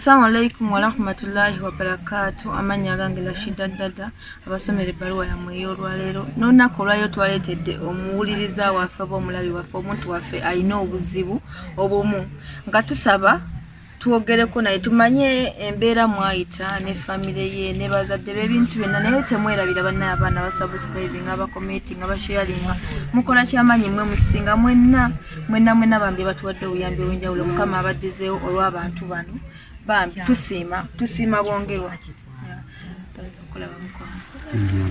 Assalamu alaikum warahmatullahi wabarakatu amanya agange Rashida Dada abasomera ebbaluwa yammwe ey'olwaleero n'olunaku olwayo twaleetedde omuwuliriza waffe oba omulabi waffe omuntu waffe alina obuzibu obumu nga tusaba twogereko naye tumanye embeera mwayita ne famire ye ne bazadde b'ebintu byonna naye temwerabira bannaye abaana basubscribinga bakometinga basharinga mukola kyamaanyi mwe musinga mwenna mwenna mwenna bambi batuwadde obuyambi obwenjawulo mukama abaddizeewo olw'abantu bano bambi tusiima tusiima bwongerwa okulaba mukwano mm-hmm.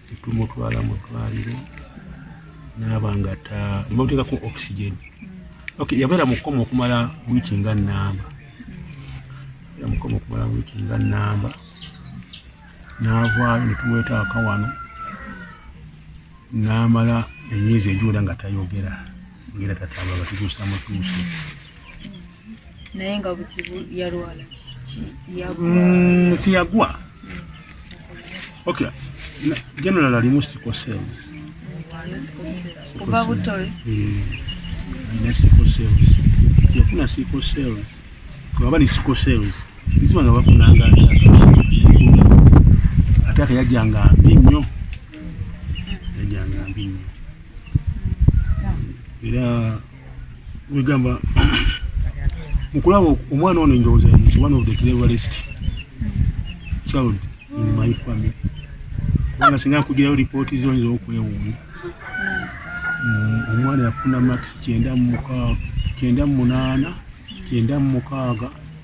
tumutwala mu ddwaliro naaba nga nebamuteekaku oxygen okay yabeera mukoma okumala wiiki nga namba yamukoma okumala wiiki nga namba naavaayo netumweta akawano namala emyezi egiwera nga tayogera ngera tatamba batutuusa mutuuse naye nga buzibu yalwala tiyagwa mm, okay general alimu sickle cells kuva buto mm, alina sickle cells yafuna sickle cells baba ni sickle cells izima nga bafunanga ate aka yajjanga mbi nnyo yajjanga mbi nnyo era wegamba mukulaba omwana ono enjowooza is one of the cleverest child in my family kubanga singa nkugirayo lipooti zo nyiza okwewuunya mm, omwana yafuna max kyenda mumukaaga kyenda mu munaana kyenda mu mukaaga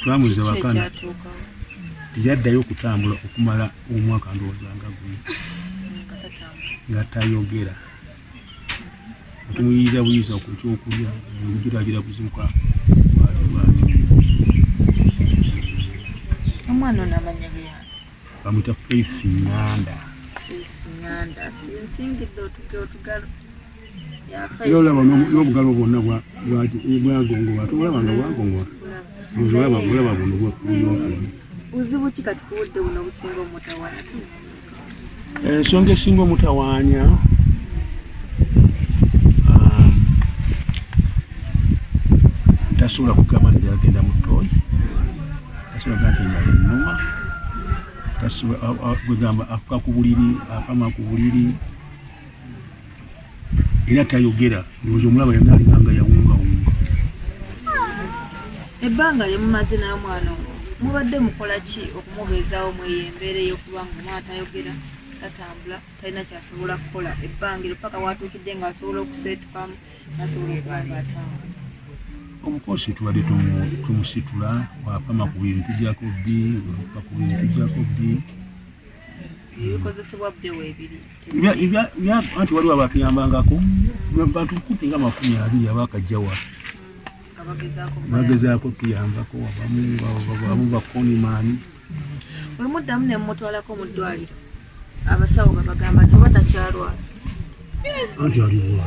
twamuza wakana teyaddayo okutambula okumala omwaka ndowooza nga gumu nga tayogera otumuyiriza buyiriza ku kyokulya omujiragira kuzimuka omwana ono amanya bya bamwita face nganda face nganda sinsingidde otugalo era olaba n'obugalo bwonna bwagongowa tolaba nga bwagongowa olaba olaba buno bwobwokali buzibu ki kati kubudde buno obusinga omutawaana ensonga esinga omutawaanya um, tasobola kugamba nti yagenda mu tooyi tasobola kugamba nti nyala ennuma tasobola kwegamba afuka ku buliri akama ku buliri era tayogera ndowooza omulaba yonna alinanga yawungawunga ebbanga lye mumaze nayo mwana owo mubadde mukola ki okumubeezawo mweyo embeera eyokuba nga omwana tayogera tatambula talina kyasobola kukola ebbanga eryo paka watuukidde nga asobola okuseetukamu nasobola okuba nga atambula omukosi tubadde tumusitula wapama ku bintu tujjako bbi wapa ku bintu tujjako bbi ebikozesebwa bbewo ebiri anti waliwo abatuyambangako bantu kupi nga makumi abiri abakajjawa bagezaako tuyambako abamu bakonimaani wemuddamu nemumutwalako mu ddwaliro abasawo babagamba nti oba takyalwala anti aliwa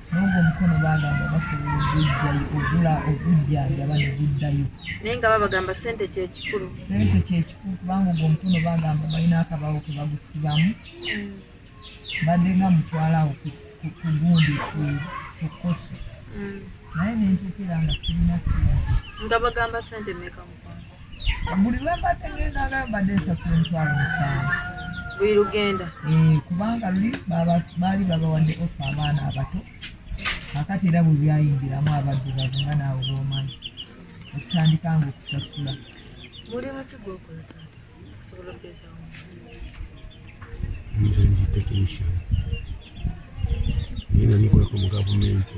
N'ogwo omukono baagamba basobola ogujjayo ogula ogujjanjaba ne guddayo. Naye nga babagamba ssente kye kikulu. Ssente kye kikulu kubanga ogwo omukono baagamba balina akabaawo ke bagusibamu mm. mbadde nga mutwalawo ku gundi ku koso mm. naye ne ntuukira nga sirina ssente. Nga bagamba ssente mmeka? buli lwembadde ngenda agala mbadde nsasula emitwalo musanvu buli lugenda eh, kubanga luli baali babawadde ofa abaana abato akati era bwe byayingiramu abaddu bavu nga naawe bomanyi okutandika nga okusasula mulimu ki gwokola taata okusobola okubeezawo nze ndi technician naye nali nkolako mu gavumenti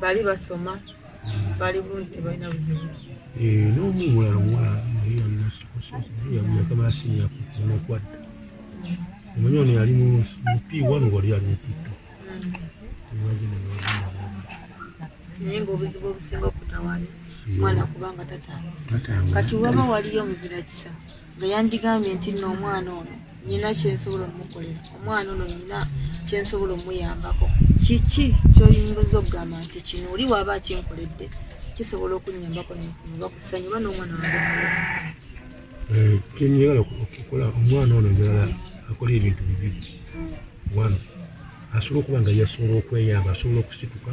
bali basoma bali bungi tebalina buzibu eh, n'omu mulala omuwala naye yalinayakamala siniya nokwadda omanyi ono yali mupi wanu wali ali mupitto naye ngaobuzibu obusinga okutawanya mwana kubanga tatanga kati waba waliyo muzira kisa nga yandigambye nti nno omwana ono nina kyensobola omukolera omwana ono nina kyensobola omuyambako kiki kyoyinza okugamba nti kino oli waaba akinkoledde kisobola okunyambako nfuna kusanyu oba nomwana eh, kyenyagala okukola omwana ono njagala akola ebintu bibiri wano asobola okuba nga yasobola okweyamba asobola okusituka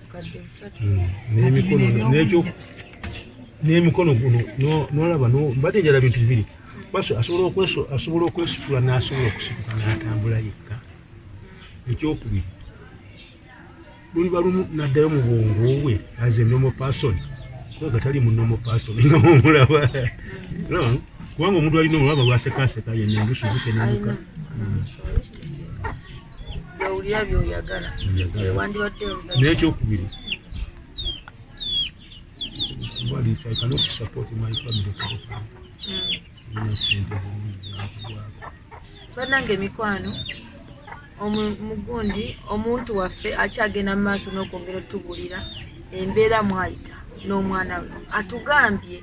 n'emikono guno nolaba mbadde njala bintu bibiri asobola okwesitula n'asobola okusituka n'atambula yekka ekyokubiri luliba lumu naddayo mu bwongo bwe as a normal person kubanga tali mu normal person nga omulaba kubanga omuntu alina omulaba lwasekaseka yenna mbusubukenamuka nekyokubiri banange emikwano mugundi omuntu waffe akyagenda mu maaso n'okwongera otubulira embeera mwayita n'omwana we atugambye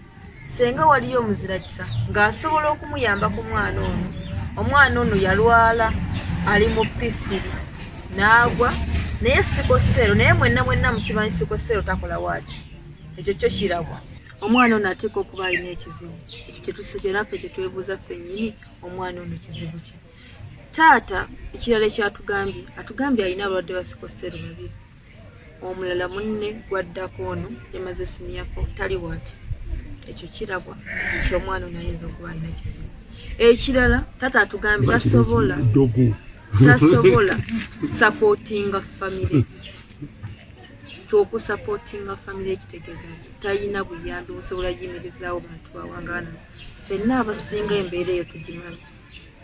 Senga waliyo omuzirakisa ng'asobola okumuyamba ku mwana ono. Omwana ono yalwala ali mu pifiri n'agwa naye sikoseero naye mwenna mwenna mukimanyi sikoseero takola waaki ekyo kyo kirabwa omwana ono ateeka okuba alina ekizibu kyetusekyeraffe kyetwebuuza ffennyini omwana ono kizibu kye taata ekirala ekyatugambye atugambye alina abalwadde basikoseero babiri omulala munne gwaddako ono yamaze siniya fo tali waati ekyo kirabwa nti omwana ono ayinza okuba alina kizibu ekirala tata atugambye tasobola tasobola sapotinga famire kyokusapotinga famire ekitegeeza nti talina buyambi busobola yimirizaawo bantu bawangaana fenna abasinga embeera eyo tugimanyi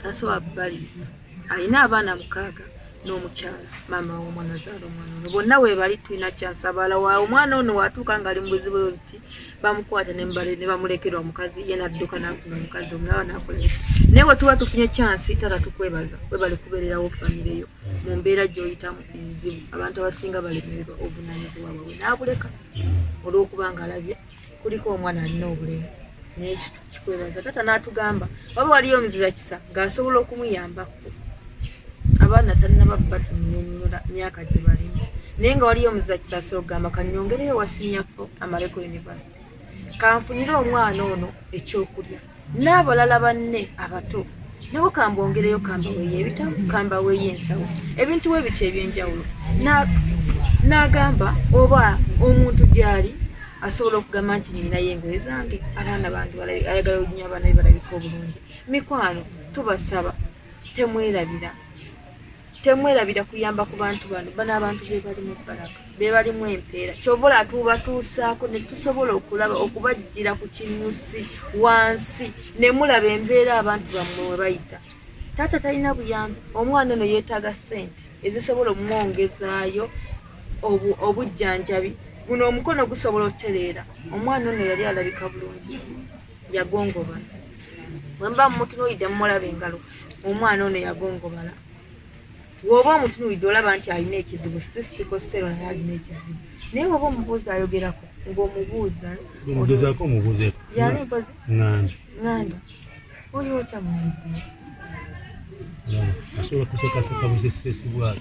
Kasoa Baliisa alina abaana mukaaga n'omukyala maama w'omwana azaala omwana ono bonna weebali tulina kyansabala wa omwana ono waatuuka ng'ali mu buzibu bwe buti bamukwata ne bamulekera omukazi ye nadduka n'afuna omukazi omulaba n'akola eki naye bwe tuba tufunye kyansi tata tukwebaza webali kubeererawo famire yo mu mbeera gy'oyitamu enzibu abantu abasinga balemererwa obuvunaanyizibwa bwabwe n'abuleka olw'okuba ng'alabye kuliko omwana alina obulemu naye kikwebaza taata n'atugamba waba waliyo omuzira kisa ng'asobola okumuyambako abaana talinaba batunyonyola myaka gye balimu naye nga waliyo omuzira kisa asobola okugamba kanyongereyo wasinyafo amaleko univesity kanfunire omwana ono ekyokulya n'abalala banne abato nabo kambongereyo kambaweyo ebitabo kambaweyo ensawo ebintu we bityo ebyenjawulo n'agamba oba omuntu gyali asobola okugamba nti ninayo engoye zange abaana bange ayagala oginya abaana be balabika obulungi mikwano tubasaba temwerabira temwerabira kuyamba ku bantu bano bano abantu bebalimu ebbalaga bebalimu empeera kyova ola tubatuusaako ne tusobola okulaba okubajjira ku kinyusi wansi ne mulaba embeera abantu bammwe we bayita taata talina buyambi omwana ono yeetaaga ssente ezisobola omumwongezaayo obujjanjabi guno omukono gusobola otereera omwana ono yali alabika bulungi yagongobala wemba mumutunuulidde mumulaba engalo omwana ono yagongobala woba omutunuulidde olaba nti alina ekizibu sisiko sero naye alina ekizibu naye woba omubuuza ayogerako ngaomubuuza yani mpozi nganda oliwo kyamuidde asobola kusekaseka busesesi bwaki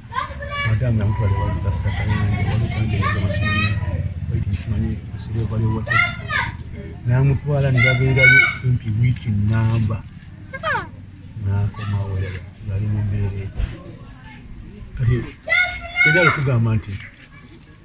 namutwala nebabeerayo kumpi wiiki namba nakomawo yali mumbeera kati era okugamba nti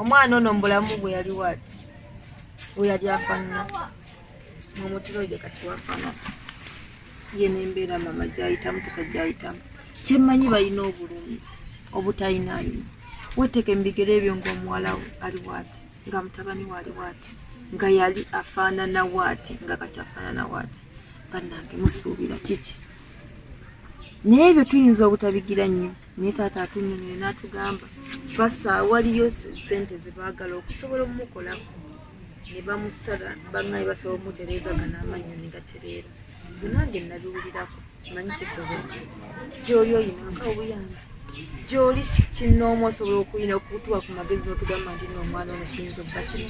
omwana ono mubulamu bwe yali wati we yali afanana mumutiro gye kati wafana ye nembeera mama gyayitamu tuka gyayitamu kyemmanyi balina obulumi obutayinayo weteke mubigere ebyo ngaomuwala ali wati nga mutabani wali wati nga yali afaanana wati nga kati afaanana wati bannange musuubira kiki naye ebyo tuyinza obutabigira nnyo naye taata atunyumire n'atugamba basa waliyo sente zebaagala okusobola omumukolako ne bamusala bangaye basobola omutereeza gana amannyo ne gatereera nange nabiwulirako manyi kisobola gyoli oyinanga obuyamba gyoli kinnoomu osobola okuyina okutuwa ku magezi n'otugamba nti no omwana ono kiyinza okuba kino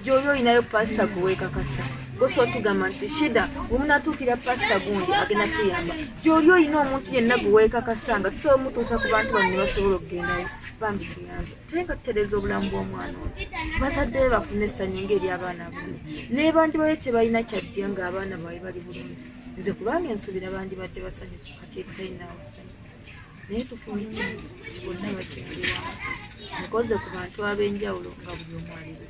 gyoli olinayo pasita gwe weekakasa gosa otugamba nti shida wemunatuukira pasita gundi agenda tuyamba gyoli olina omuntu yenna gwe weekakasa nga tusobola omutuusa ku bantu bano ne basobola okugendayo bambi tuyambe tuleka tutereeza obulamu bw'omwana ono bazadde be bafune essanyu ngaeri abaana buli nebandi bayo kyebalina kyaddya ng'abaana bawe bali bulungi nze kulwange nsuubira bandibadde basanyufu kati ebitayinaawo ssanyu naye tufumitiriza nti bonna bakyaliwa nkoze ku bantu ab'enjawulo nga buli omu aliwo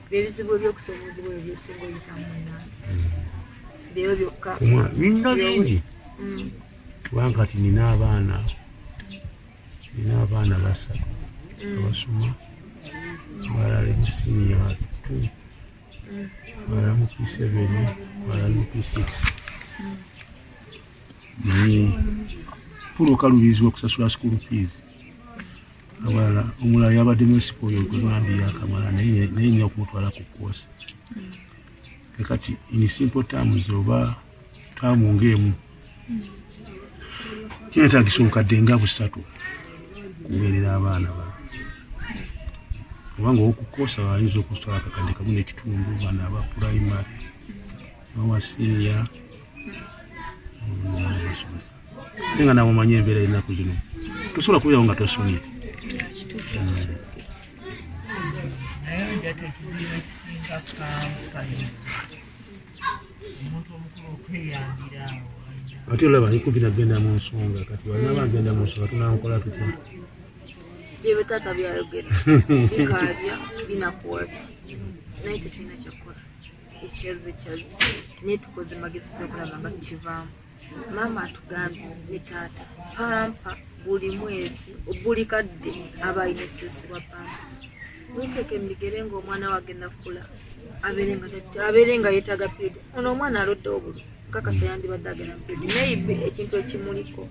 byebizibu ebyokusoomozebwa ebyo byesinga oyitamu munange byeyo byokka nina bingi mm. kubanga kati nina abaana nina abaana basatu mm. abasoma abalala emusiniya tu abalala mm. mu p7 abalala mu p6 pula okalubirizibwa okusasula school fees abalala omulala yabadde mwesipa oyo ogubambi yakamala naye nina okumutwala ku koosi kakati in simple terms oba taamu ngaemu kinetagisa obukadde nga busatu kuweerera abaana ba kubanga okukoosa bayinza okusala kakadde kamu nekitundu bana aba primary awa siniya nga nawe omanyi embeera ennaku zino tosobola kubeerawo nga tosomye ate olaba nikubi nagenda mu nsonga kati wanaba agenda mu nsonga tunankola tutya byebyo taata byayogera bikaabya binakuwaza naye tetulina kyakukola ekyaze kyaze naye tukoze magezi zokulaba nga tukivaamu maama atugambye ne taata pampa buli mwezi buli kadde aba alina ekisusibwa pampa winteka emigere ngaomwana wage nakula abeere nga yetaaga period ono omwana alodde obulu kakasa yandibadde agenda mupedi maybe ekintu ekimuliko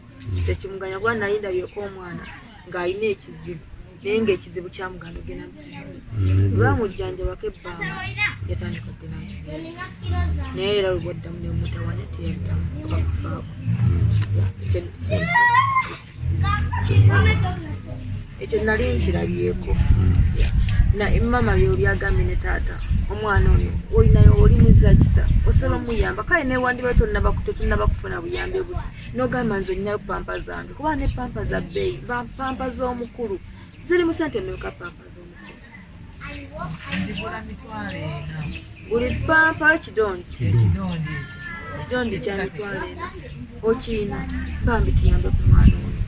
tekimuganya kuba nalindabyeku omwana ng'alina ekizibu naye ngaekizibu kyamuganda ogenda mm-hmm. lwamujjanjabako ebbanga yatandika okugenda naye era lubwaddamu nemutawanya teyaddamu abakufaako ekyo nali nkirabyeko naye mama byobyagambye ne taata omwana ono olinayo oli muzakisa osobola omuyamba kale newandiba tetunaba kufuna buyambi buli nogamba nze nina pampa zange kuba ne pampa za bbeeyi pampa z'omukulu ziri mu sente meka pampa z'omukulu buli pampa ekidondi ekidondi kya mitwalo ena okiina bambi kiyambe ku mwana ono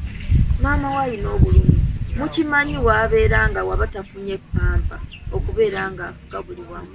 maama we alina obulumi mukimanyi wabeera nga waba tafunye pampa okubeera nga afuka buli wamu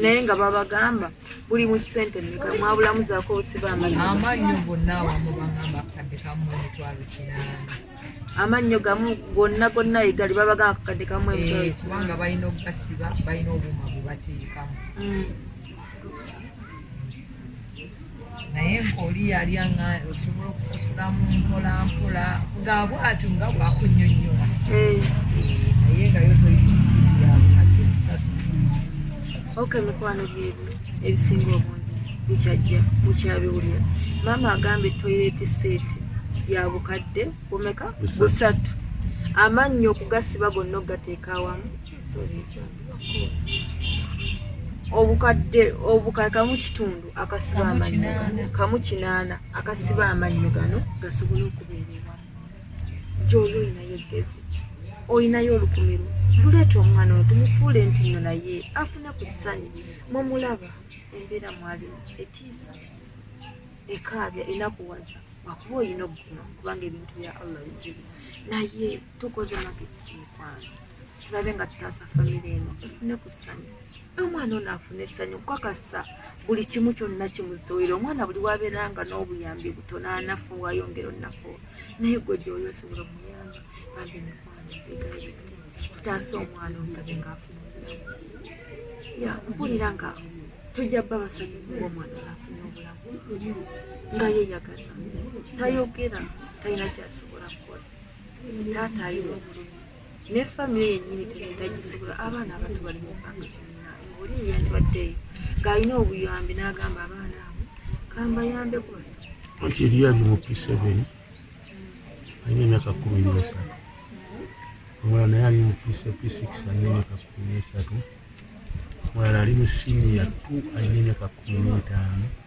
naye nga babagamba buli mu sente meka mwabulamu zaako osiba amannyo gonna awamu bagamba akadde kamu emitwalo kinaana amannyo gamu gonna gonna egali babagamba akadde kamu emitwalo eh, kubanga balina okugasiba balina obuuma bwe bateekamu mm. naye nkaoli yali anga osobola okusasula mu mpola mpola nga bwatyo nga bwakunyonyola eh. naye nga yo toyisiiyaoka emikwano byebi ebisinga obungi bikyajja mukyabiwulira maama agambe toyireti seeti ya bukadde bumeka busatu amannyo okugasiba gonna okugateeka awamu obukadde obukala kamu kitundu akasiba amannyo gano kamu kinaana akasiba amannyo gano gasobole okubeerera gyoli olinayo eggezi olinayo olukumiro luleeta omwana ono tumufuule nti no naye afune ku ssanyu mumulaba embeera mwalimu etiisa ekaabya enakuwaza wakuba olina okuguma kubanga ebintu bya allah bizibu naye tukoze magezi kimukwano tulabe nga tutaasa famire eno efune ku ssanyu omwana ono afune essanyu kukakasa buli kimu kyonna kimuziwere omwana buli wabeera nga n'obuyambi butono anafu wayongera onaku naye gwe gyoyo osobola omuyamba bambi mikwano egayirite tutaasa omwana omulabe ngaafuna obulamu ya mpulira nga tujja bba basanyufu ngaomwana afune obulamu nga yeyagaza tayogera talina kyasobola kukola taata ayina obulumi ne famire yennyini teneetagisobola abaana abato bali mu mpanga kyonna oli yeyandibaddeeyo ng'alina obuyambi n'agamba abaana abo kambayambe kubaso ekiri ali mu pisebeni alina emyaka kumi n'esatu omulala naye ali mu pisa p6 alina emyaka kumi n'esatu omulala ali mu siniya t alina emyaka kumi n'etaano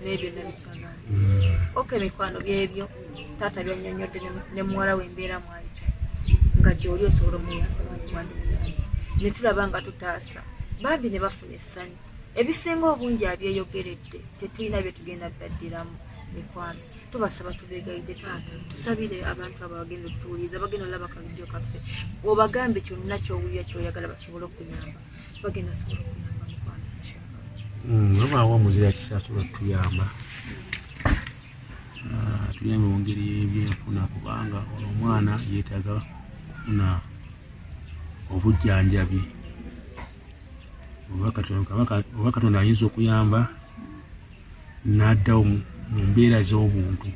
naye byonna bikyagana mm. oka emikwano byebyo taata byanyonyodde ne muwala we embeera mwayita nga gyoli osobola omuyambawandimuyambi ne tulaba nga tutaasa bambi ne bafuna essanyu ebisinga obungi abyeyogeredde tetulina bye tugenda ddaddiramu mikwano tubasaba tubegayidde taata tusabire abantu abo bagenda otuwuliriza bagenda olaba kavidiyo kaffe obagambe kyonna kyowulira kyoyagala basobole okuyamba bagenda sobola okuyamba mukwano wabaawo hmm, omuzira kisasobola okutuyamba ah, tuyamba mu ngeri y'ebyenfuna kubanga ono omwana yeetaaga kufuna obujjanjabi oba katonda ayinza okuyamba n'addawo mu mbeera z'obuntu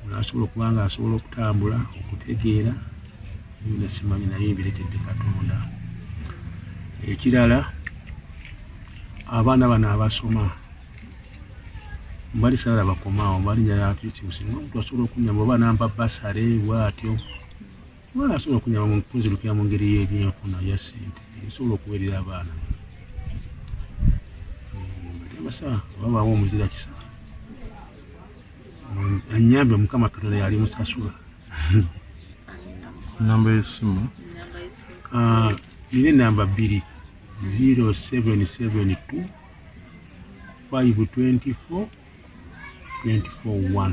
n'asobola okuba nga asobola okutambula okutegeera byona simanyi naye ebirekedde katonda ekirala abaana bano abasoma mbali sala bakomaawo mbali nyala atisi musinga omuntu asobola okunyamba oba nampa basale bwatyo Mwana asobola okunyama mu kunzirukira mu ngeri y'ebyenfuna ya ssente esobola okuwerera abaana temasa oba baawo omuzira kisa anyambe mukama katonda yali musasula namba yesimu ah, nina enamba bbiri 0772 524 241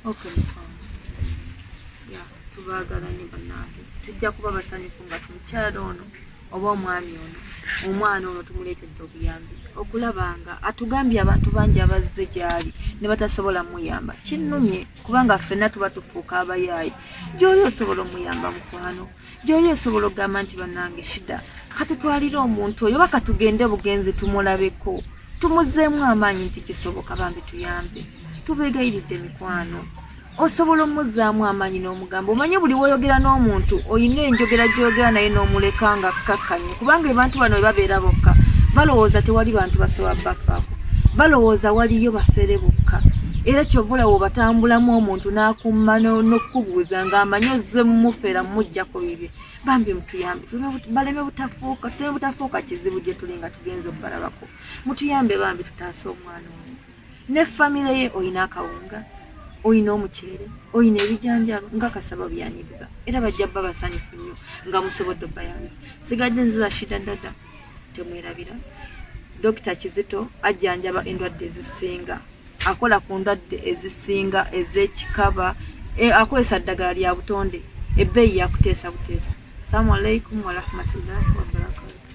Okay, yeah, tubaagala nyo bannange tujja kuba basanyufu nga tumukyala ono oba omwami ono omwana ono tumuleetedde obuyambi okulaba nga atugambye abantu bangi abazze gyali ne batasobola muyamba kinnumye kubanga ffenna tuba tufuuka abayaayi gyoli osobola omuyamba mukwano gyoli osobola okugamba nti banange shida katutwalire omuntu oyo oba katugende bugenzi tumulabeko tumuzeemu amaanyi nti kisoboka bambi tuyambe tubegayiridde mikwano osobola omuzaamu amaanyi n'omugambo omanye buli woyogera n'omuntu olina enjogera gyogera naye n'omuleka nga kkakkanya kubanga abantu bano webabeera bokka balowooza tewali bantu basobola bafaako balowooza waliyo bafere bokka era kyovola wobatambulamu omuntu nakumma nokukubuuza nga amanyi ozze mumufera mumujjako bibye bambi mutuyambe baleme butafuuka tuleme butafuuka kizibu gyetuli nga tugenza okubalabako mutuyambe bambi tutaase omwana omu ne famire ye olina akawunga olina omuceere olina ebijanjalo nga kasaba byaniriza era bajja bba basanyufu nnyo nga musobodde obayambi sigadde nziza shida dada temwerabira dokita kizito ajjanjaba endwadde ezisinga akola ku ndwadde ezisinga ezekikaba e, akozesa ddagala lya butonde ebbeeyi yakuteesa buteesa salamu alaikum warahmatullahi wabarakatu